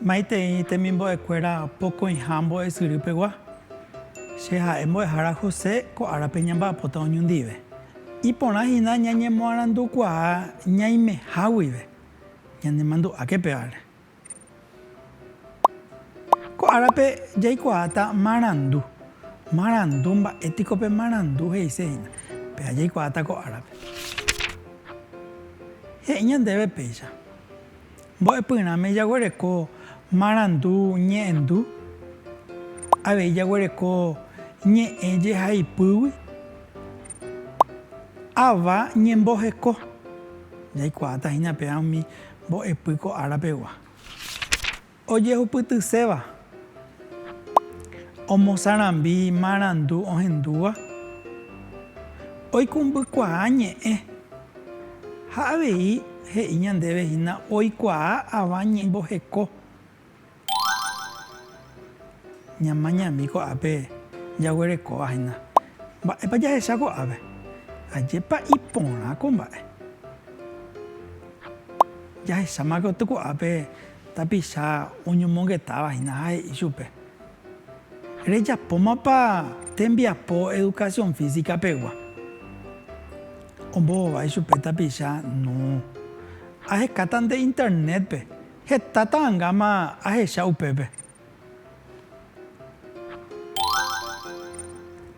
Maitei temimbo'ekuéra pokõiha mbo'esyry pegua, che ha'e mbo'ehára José ko árape ñamba'apóta oñondive. Iporã hína ñañemoarandukuaa ñaimeha guive. Ñanemandu'áke pe ára. Ko árape jaikuaáta marandu. Marandu, mba'e piko pe marandu he'ise hína. Péva jaikuaáta ko árape. He'i ñandéve péicha. Mbo'epyrãme jaguereko marandu ñe'ẽndu, avei jaguereko ñe'ẽ jehaipýgui. Ava ñemboheko. Jaikuaáta hína peã umi mbo'epy ko ára pegua. Ojehupytyséva, omosarambi marandu ohendúva, oikũmbykuaa ñe'ẽ. Ha avei he'i ñandéve hína oikuaa ava ñe'ẽ mboheko Ñamañami ko'ápe jaguerekóva hína. Mba'épa jahecha ko'ápe? Ajépa iporã ko mba'e. Jahecháma katu ko'ápe tapicha oñomongetáva hína ha he'i chupe, Rejapómapa tembiapo educación física pegua? Ombovava ichupe tapicha, No. Ahekáta nde Internet-pe. Heta ta'angáma ahecha upépe.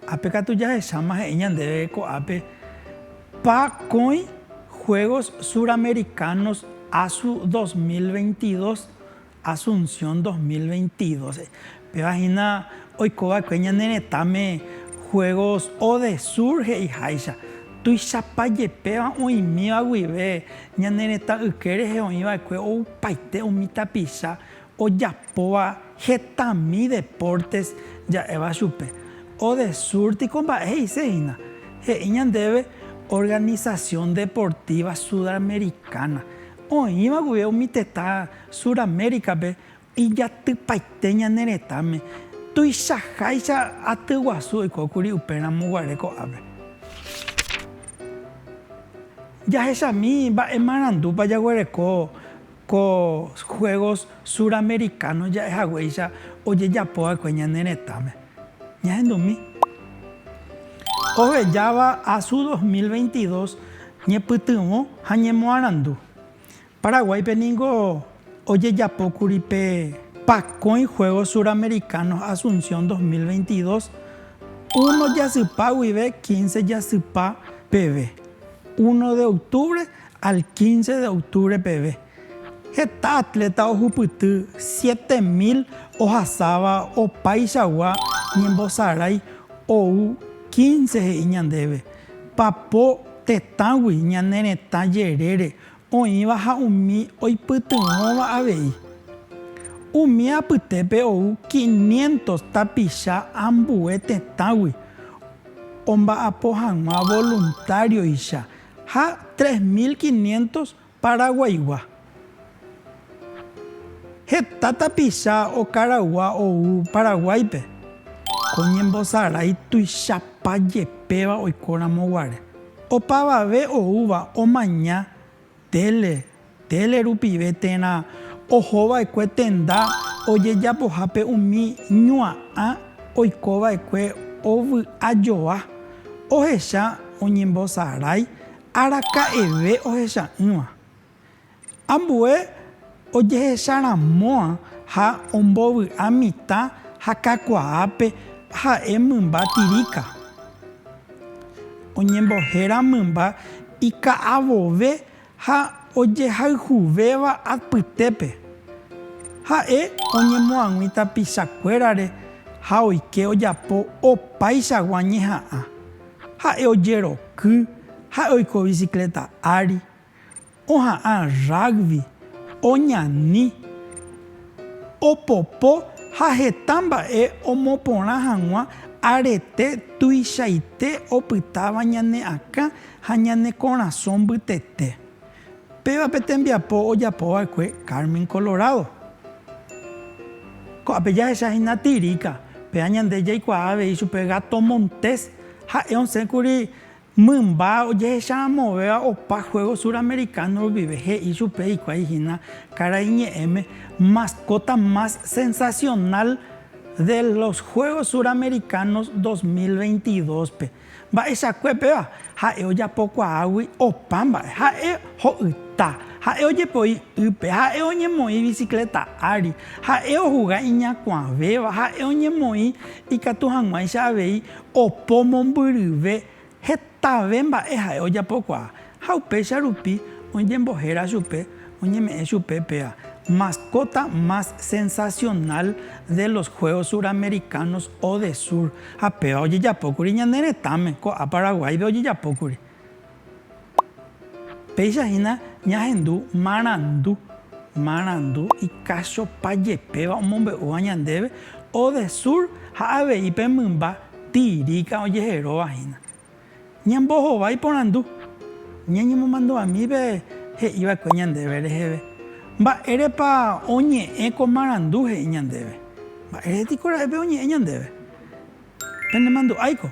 Ápe katu jahecháma he'i ñandéve ko'ápe pa kóĩ Juegos Suramericanos Asu 2022, Asunción 2022. Péva hína oikova'ekue ñane retãme Juegos O de Sur he'iháicha, tuichapa jepéva oĩmíva guive ñane retã yke rehe oĩva'ekue oupaite umi tapicha ojapóva hetami deportes ja'éva chupe. O de Sur tiko mba'e he'ise hína? He'i ñandéve Organización Deportiva Sudamericana. Oĩva guive umi tetã Suramérica-pe Ijatypaite ñane retãme, tuichaháicha aty guasu oikókuri upe ramo guare ko'ápe. Jahechami mba'e marandúpa jaguereko ko Juegos Suramericanos ja'e haguéicha ojejapo va'ekue ñane retãme. Ñahendumi. Ohejáva Asu 2022 ñepytyvõ ha ñemoarandu. Paraguáipe ningo ojejapókuri pe pakõi Juegos Suramericanos Asunción 2022, uno jasypa guive quince jasypa peve, uno de octubre al quince de octubre peve. Heta atleta ohupyty siete mil ohasáva opaichagua ñembosarái ou quince he'i ñandéve, papo tetãgui ñane retã jerére oĩva ha umi oipytyvõva avei. Umi apytépe ou quinientos tapicha ambue tetãgui omba'apo hag̃ua voluntario-icha ha tres mil quinientos paraguaigua. Heta tapicha okaraygua ou Paraguáipe, ko ñembosarái tuichapa jepéva oikóramo guare. Opavave oúva omaña tele, tele rupive térã ohova'ekue tenda ojejapohápe umi ñua'ã oikova'ekue ovy'ajoa, ohecha oñembosarái araka'eve ohecha'ỹva. Ambue ojehecharãmo'ã ha ombovy'a mitã ha kakuaápe ha'e mymba tiríka. Oñembohéra mymba ika'avove ha ojehayhuvéva apytépe. Ha'e oñemoag̃ui tapichakuérare ha oike ojapo opaichagua ñeha'ã. Ha'e ojeroky, ha'e oiko bicicleta ári, oha'ã rugby, oñani, opopo ha heta mba'e omoporã hag̃ua arete tuichaite opytáva ñane akã ha ñane korasõ mbytete. Péva pe tembiapo ojapo va'ekue Carmen Colorado. Ko'ápe jahecha hína tiríka, péva ñande jaikuaa avei chupe gato montés, ha'e osẽ kuri Mymba ojehecharamovéva opa Juegos Suramericanos rupive he'i chupe hikuái hína karai ñe'ẽme Mascota más sensacional de los Juegos Suramericanos 2022-pe. Mba'eichakue péva, ha'e ojapokuaágui opa mba'e. Ha'e ho'yta, ha'e ojepoi ýpe, ha'e oñemoĩ bicicleta ári, ha'e ohuga iñakuãvéva, ha'e oñemoĩ ikatu hag̃uáicha avei Opo mombyryve hetave mba'e ha'e ojapokuaa, ha upéicha rupi oñembohéra chupe oñeme'ẽ chupe péva Mascota más sensacional de los Juegos Suramericanos o de Sur, ha péva ojejapókuri ñane retãme, ko'ã Paraguáipe ojejapókuri. Péicha hína ñahendu marandu, marandu ikachopa jepéva omombe'úva ñandéve Odesur ha avei pe mymba Tiríka ojeheróva hína. Ñambohovái porandu, ñañemomandu'ami pe he'i va'ekue ñandéve reheve, Mba'érepa oñe'ẽ ko marandu he'i ñandéve? Mba'éretekora'e pe oñe'ẽ ñandéve? Penemandu'áiko,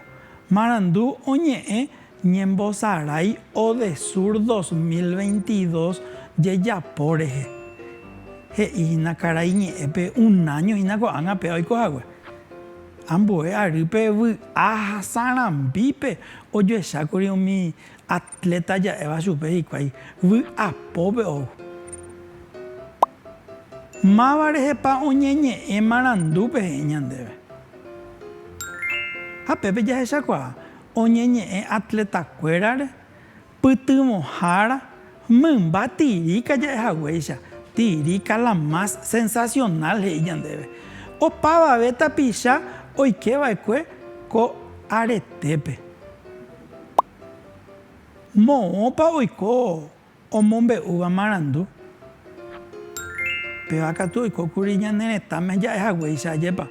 marandu oñe'ẽ ñembosarái Odesur 2022 jejapo rehe. He'i hína karai ñe'ẽpe unáño hína ko'ág̃a pe oiko hague. Ambue arýpe vy'a ha sarambípe ojoechákuri umi at. Léta ja'éva chupe hikuái vy'apópe ou. Máva rehepa oñeñe'ẽ marandu peteĩ ñandéve? Ha pépe jahechakuaa oñeñe'ẽ atletakuérare, pytyvõhára, mymba tiríka ja'e haguéicha, tiríka la más sensacional he'i ñandéve. Opavave tapicha oike va'ekue ko aretépe. Moõpa oiko omombe'úva marandu? Péva katu oikókuri ñane retãme ja'ehaguéicha, ajépa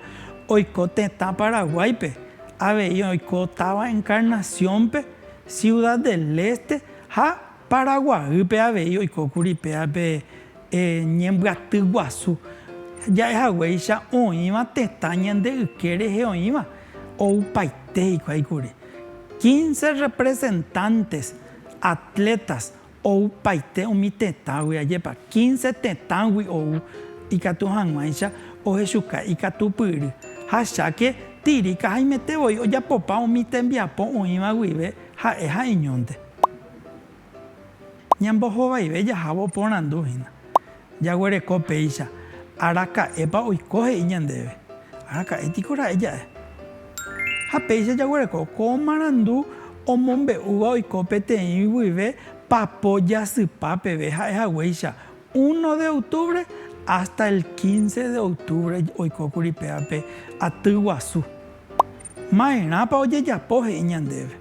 oiko tetã Paraguáipe, avei oiko táva Encarnación-pe, Ciudad del Este ha Paraguaýpe avei oikókuri péape ñembyaty guasu ja'ehaguéicha oĩva tetã ñande yke rehe oĩva, oupaite hikuái kuri. Quince representantes, atletas, oupaite umi tetãgui, ajépa, quince tetãgui ou ikatu hag̃uáicha ohechuka ikatupyry. Ha cháke Tirica haimete voi ojapopa umi tembiapo oĩva guive ha'e ha'eñónte. Ñambohovaive jahávo oporandu hína, jaguereko péicha, Araka'épa oiko he'i ñandéve? Araka'e piko ra'e ja'e? Ha péicha jaguereko ko marandu omombe'úva oiko peteĩ guive papo jasypa peve ha'e haguéicha, Uno de octubre hasta el quince de octubre oikókuri pévape aty guasu. Maerãpa ojejapo he'i ñandéve?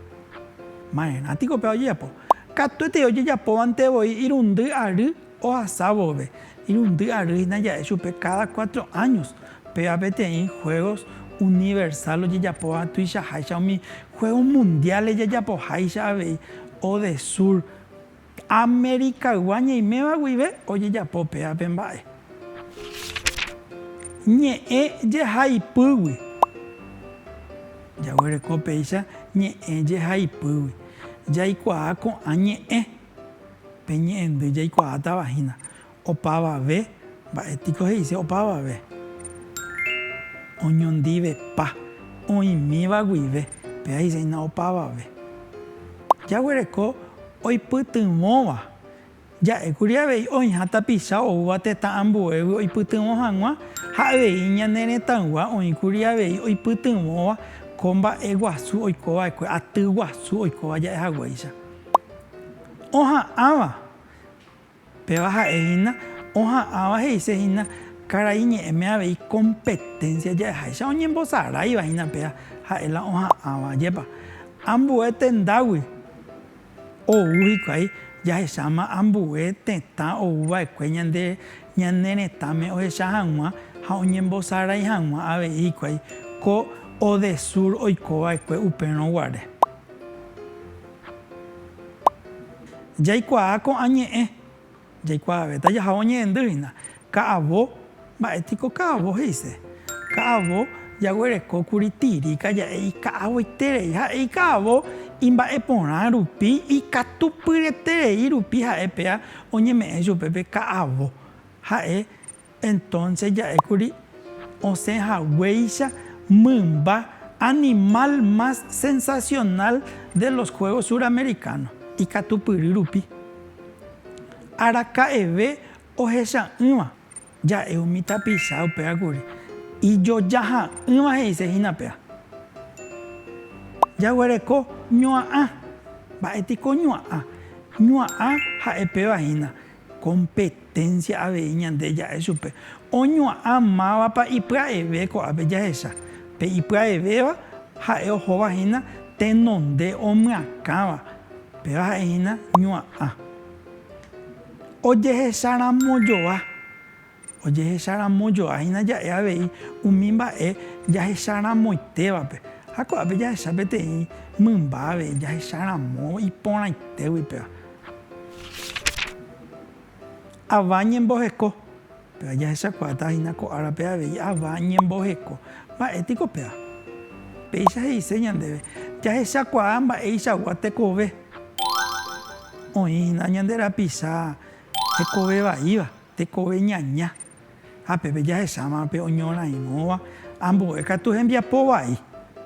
Maerã tiko péva ojejapo? Katuetei ojejapóvante voi irundy ary ohasa vove. Irundy ary hina ja'e chupe cada cuatro años. Péva peteĩ juegos universal ojejapóva tuichaháicha umi juegos mundiales jajapoháicha avei o de sur. Amerikaygua ñeiméva guive ojejapo pe ápe mba'e. Ñe'ẽ jehaipýgui. Jaguereko péicha ñe'ẽ jehaipýgui. Jaikuaa ko'ã ñe'ẽ. Pe ñe'ẽndy jaikuaátava hína. Opavave, mba'e piko he'ise opavave? Oñondivepa, oĩmíva guive, péva he'ise hína opavave. Jaguereko oipytyvõva, ja'ékuri avei oĩha tapicha oúva tetã ambuégui oipytyvõ hag̃ua ha avei ñane retãygua oĩkuri avei oipytyvõva ko mba'e guasu oiko va'ekue, aty guasu oikóva ja'e haguéicha. Oha'ãva. Péva ha'e hína oha'ãva he'ise hína karai ñe'ẽme avei kompeténsia ja'eháicha oñembosaráiva hína péa ha'e la oha'ãva. Jepa, ambue tendágui ou hikuái jahecháma ambue tetã ou va'ekue ñande ñane retãme ohecha hag̃ua ha oñembosarai hag̃ua avei hikuái ko Odesur oiko va'ekue upérõ guare. Jaikuaa ko'ã ñe'ẽ, jaikuaavéta jaha oñe'ẽndy hína. Ka'avo, mba'e piko ka'avo he'ise? Ka'avo jaguereko kuri tiríka ja'e ika'avoiterei ha'e ika'avo imba'e porã rupi, ikatupyreterei rupi ha'e péa oñeme'ẽ chupe pe ka'avo. Ha'e Entonce ja'ékuri osẽ haguéicha mymba animal más sensacional de los juegos suramericanos, ikatupyry rupi. Araka'eve ohecha'ỹva ja'e umi tapicha upéva kuri, ijoja ha'ỹva he'ise hína péva. Jaguereko ñua'ã. Mba'étiko ñua'ã? Ñua'ã ha'e péva hína. Kompeténsia avei ñande ja'e chupe. Oñua'a mávapa ipya'eve ko'ápe jahecha. Pe ipya'evéva ha'e ohóva hína tenonde omyakãva, péva ha'e hína ñua'a. Ojehecharamojoa Ojehecharamojoáhina ja'e avei umi mba'e jahecharamoitévape, ha ko'ápe jahecha peteĩ mymba avei jahecharamo iporãitégui péva. Ava ñemboheko. Péva jahechakuaáta hína ko árape avei ava ñemboheko. Mba'e piko péva? Péicha he'ise ñandéve, jahechakuaa mba'eichagua tekove oĩ hína ñande rapicha hekove vaíva. Tekove ñaña, ha pépe jahecháma pe oñorairõva ambue katu hembiapo vai.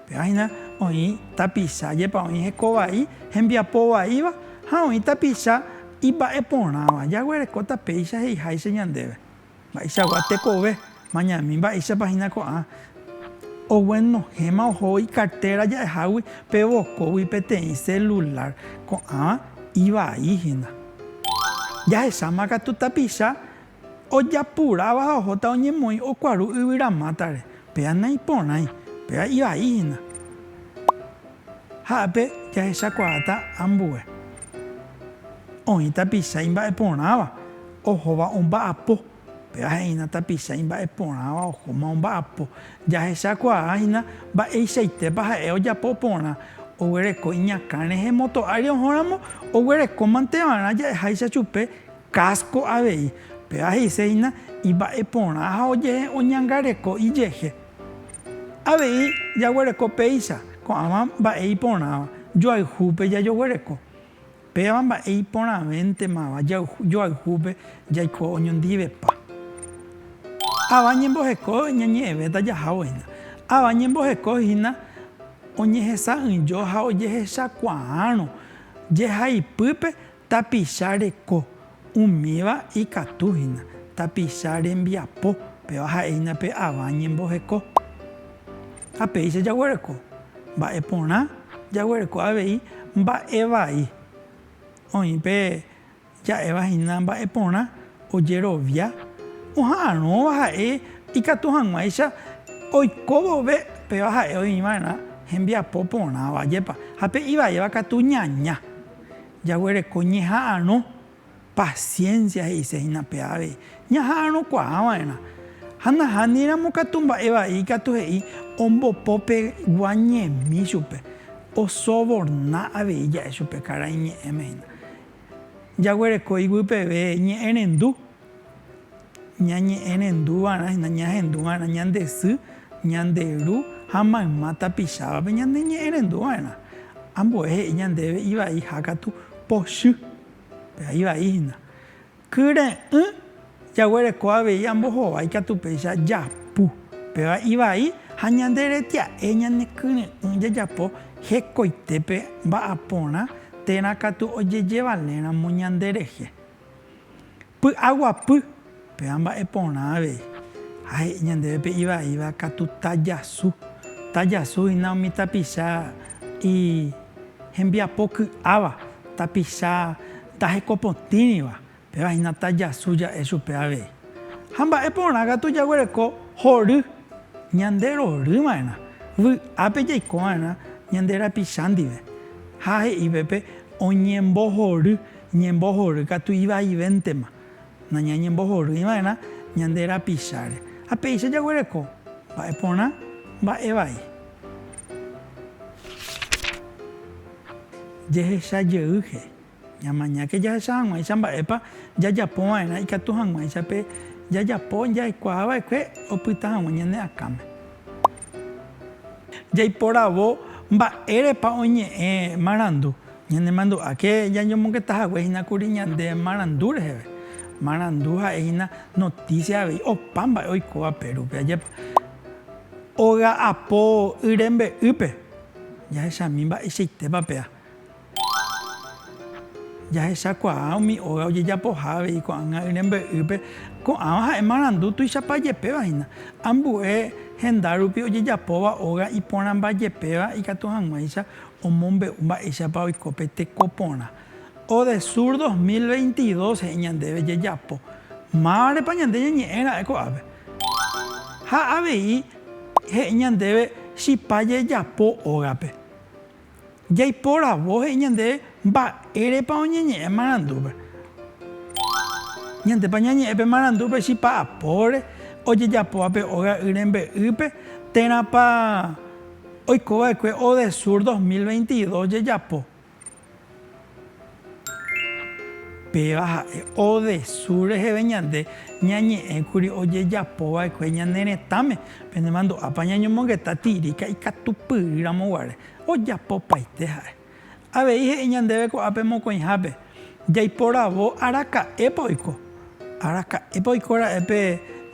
Péva hína oĩ tapicha jepa oĩ heko vai hembiapo vaíva ha oĩ tapicha imba'eporãva. Jaguerekóta péicha he'iháicha ñandéve. Mba'eichagua tekove Mañami mba'éichapa hína ko'ã oguenohẽma oho ikartéra ja'ehágui pe vokógui peteĩ selulár ko'ãva ivai hína. Jahecháma katu tapicha ojapuráva ha ohóta oñemoĩ okuaru yvyramátare, péva naiporãi, péva ivai hína. Ha'épe jahechakuaáta ambue oĩ tapicha imba'eporãva ohóva omba'apo. Péva he'ína tapicha imba'eporãva ohóma omba'apo. Jahechakuaa hína mba'eichaitépa ha'e ojapo porã. Oguereko iñakã rehe moto ári ohóramo, oguerekómanteva'erã ja'eháicha chupe kásko avei. Péva he'ise hína imba'eporã ha ojehe oñangareko ijehe. Avei jaguereko péicha ko'ãva mba'e iporãva, joayhúpe jajoguereko. Péva mba'e iporãvéntemava joayhúpe jaiko oñondivepa. Ava ñemboheko ñañe'ẽvéta jahávohína. Ava ñemboheko hína oñehesa'ỹijo ha ojehechakuaárõ jehaipýpe tapicha reko Umíva ikatu hína tapicha rembiapo, péva ha'e hína pe ava ñemboheko. Ha péicha jaguereko mba'e porã, jaguereko avei mba'e vai. Oĩ pe ja'éva hína mba'e porã ojerovia oha'arõva ha'e ikatu hag̃uáicha oiko vove, péva ha'e oĩ va'erã hembiapo porãva, jepa. Ha pe ivaíva katu ñaña, Jaguereko ñeha'arõ paciencia he'ise hína pe avei, ñaha'arõkuaa va'erã. Ha nahániramo katu mba'e vai ikatu he'i ombopo pe gua ñemi chupe, osoborna avei ja'e chupe karai ñe'ẽme hína. Jaguereko iguy peve ñe'ẽrendu. Ñañe'ẽrendu va'erã hína ñahendu va'erã ñande sy, ñande ru ha mayma tapichávape ñaneñe'ẽrendu va'erã. Ambue he'i ñandéve ivai hákatu pochy. Péva ivai hína. Kyre'ỹ jaguereko avei ambohovái ikatu péicha japu. Péva ivai ha ñanderetia'e ñane kyre'ỹ jajapo hekoitépe mba'aporã térã katu ojejevaléramo ñanderehe. Py'aguapy, péva mba'e porã avei, ha he'i ñandéve pe ivaíva katu tajasu. Tajasu hína umi tapicha ihembiapo ky'áva, tapicha ndahekopotĩriva, péva hína tajasu ja'e chupe avei. Ha mba'e porã katu jaguereko hory, ñande rory va'erã, vy'ápe jaiko va'erã ñande rapicha ndive. Ha he'i pe oñembohory. Ñembohory katu ivaivéntema, nañañembohorýiva'erã ñande rapicháre. Ha péicha jaguereko mba'e porã, mba'e vai. Jehecha jeyýhe, ñamañáke jahecha hag̃uáicha mba'épa jajapova'erã ikatu hag̃uáicha pe jajapo jaikuaava'ekue opyta hag̃ua ñane akãme. Jaiporavo mba'érepa oñe'ẽ marandu. Ñanemandu'áke jañomongeta hague hína kuri ñande marandu reheve. Marandu ha'e hína notísia avei opa mba'e oikóva Perúpe. Ajépa óga apo y rembe'ýpe jahechami mba'eichaitépa pea. Jahechakuaa umi óga ojejapoha avei ko'ág̃a y rembe'ýpe. Ko'ãva ha'e marandu tuichapa jepéva hína. Ambue henda rupi ojejapóva óga iporãmba jepéva ikatu hag̃uáicha omombe'u mba'éichapa oiko pe teko porã. Odesur 2022 he'i ñandéve jejapo mávarepa ñande ñañe'ẽ ra'e ko'ápe. Ha avei he'i ñandéve chipa jejapo ógape. Jaiporavo he'i ñandéve mba'érepa oñeñe'ẽ marandúpe. Ñandépa ñañe'ẽ pe marandúpe chipa apóre ojejapóva pe óga y rembe'ýpe térãpa. Oikova'ekue Odesur 2022 jejapo. Péva ha'e Odesur reheve ñande ñañe'ẽkuri ojejapova'ekue ñane retãme, penemandu'ápa ñañomongeta tiríka ikatupyry ramoguare, ojapopaite ha'e. Avei he'i ñandéve ko'ápe mokõihápe, jaiporavo araka'épa oiko. Araka'épa oiko ra'e pe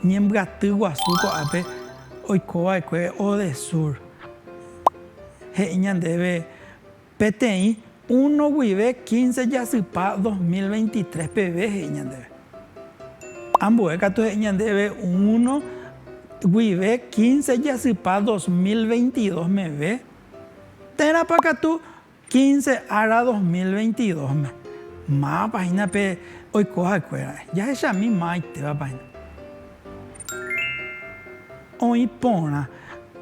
ñembyaty guasu ko'ápe oiko vaekue Odesur. He'i ñandéve peteĩ uno guive quince jasypa dos mil veintitrés peve, he'i ñandéve. Ambue katu he'i ñandéve uno guive quince jasypa dos mil veintidós meve. Térãpa katu quince ára dos mil veintidósme mávapa hína pe oiko ha'ekuéra? Jahechami mavaitépapa hína. Oĩ porã,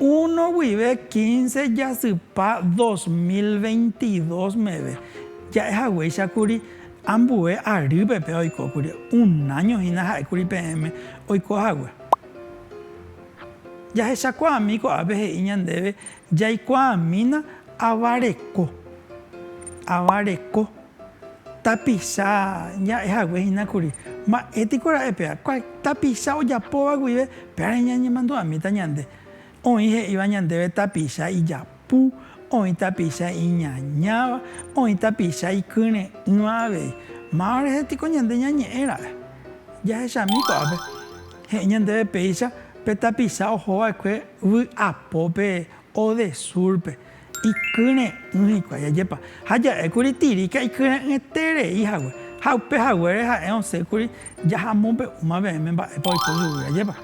uno guive quince jasypa dos mil veintidós meve, ja'e haguéicha kuri ambue arýpe pe oiko kuri, un año hína ha'e kuri peẽme oiko hague. Jahechakuaami ko'ápe he'i ñandéve. Jaikuaamína ava reko. Ava reko. Tapicha ña'e hague hína kuri. Mba'e tiko ra'e péva. Tapicha ojapóva guive, pévare ñañemandu'amíta ñande. Oĩ he'íva ñandéve tapicha ijapu, oĩ tapicha iñañáva, oĩ tapicha ikyre'ỹva avei. Máva rehe tiko ñande ñañe'ẽ ra'e. Jahechami ko'ápe. He'i ñandéve péicha pe tapicha oho va'ekue vy'apópe o de súrpe, ikyre'ỹ hikuái. Ajépa! Ha ja'e kuri Tiríka ikyre'ỹeterei hague, ha upe haguére ha'e osẽ kuri jahamombe'úma peẽme mba'épa oiko chugui. Ajépa!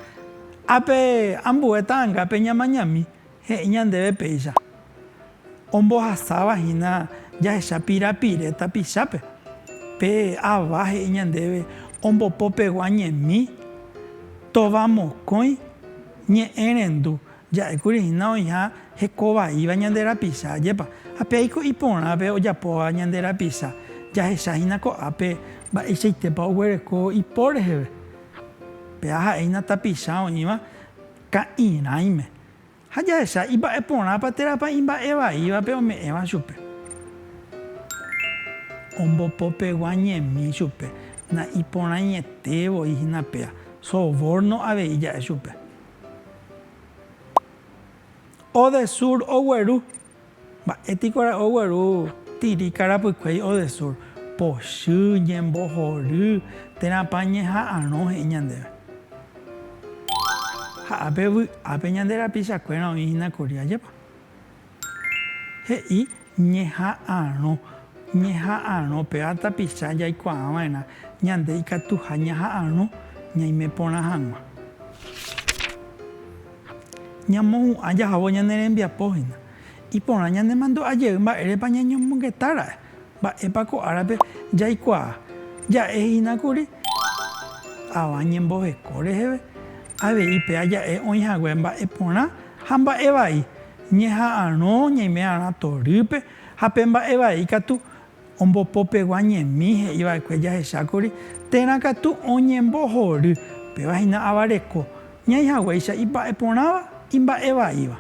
Ápe ambue ta'angápe ñamañami, He'i ñandéve péicha, ombohasáva hína jahecha pirapire tapichápe. Pe Ava he'i ñandéve ombopopegua ñemi, tova mokõi, ñe'ẽ rendu. Ja'ékuri hína oĩha hekovaíva ñande rapicha, ajépa? Ha pe aiko iporãpe ojapóva ñande rapicha, jahecha hína ko'ápe mba'eichaitépa oguereko ipo reheve. Pe A ha'e hína tapicha oĩva. Ka'irãime. Ha jahecha ipa'e porãpa térãpa imba'e vaívape ome'ẽva chupe. Ombopopegua ñemi chupe, na'iporãiete voi hína péa, sovórno avei ja'e chupe. Odesur ogueru Mba'e piko ra'o ogueru tiri karapykuéi odesur, pochy, ñembohory, térãpa ñeha'arõ he'i ñandéve. Ha ápe vy'ápe ñande rapichakuéra oĩ hína kuri, ajépa? He'i ñeha'arõ, ñeha'arõ, péva tapicha jaikuaa va'erã ñande ikatuha ñaha'arõ ñaime porã hag̃ua. Ñamohu'ã jahávo ñane rembiapo hína. Iporã ñanemandu'a jey mba'érepa ñañomongeta ra'e. Mba'épa ko árape jaikuaa? Ja'e hína kuri avã ñemboheko reheve, avei pe aja'e oĩ hague mba'e porã ha mba'e vai, ñeha'arõ ñaime'arã torýpe ha pe mba'e vai katu Ombopopegua ñemi he'i va'ekue jahechákuri térã katu oñembohory, péva hína ava reko, ñaĩ haguéicha ipa'e porãva, imba'e vaíva.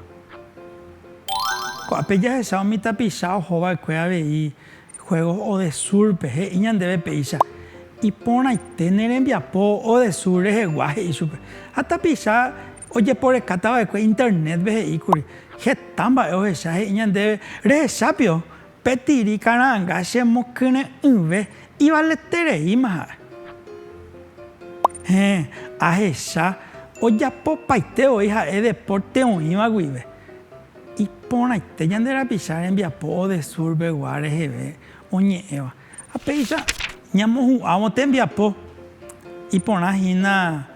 Ko'ápe jahecha umi tapicha oho va'ekue avei Juegos Odesur-pe, he'i ñandéve péicha, Iporãite ne rembiapo Odesur rehegua, he'i chupe. Ha tapicha ojeporekáta va'ekue Internet-pe he'íkuri, heta mba'e ohecha, he'i ñandéve, Rehecha pio, Pe tiri kara'ãnga chemokyre'ỹve ivaletereíma ha'e. Héẽ, ahecha ojapopaite voi ha'e depórte oĩva guive. Iporãite ñande rapicha rembiapo Odesur pegua reheve oñe'ẽva. Ha péicha ñamohu'ãvo tembiapo iporã hína.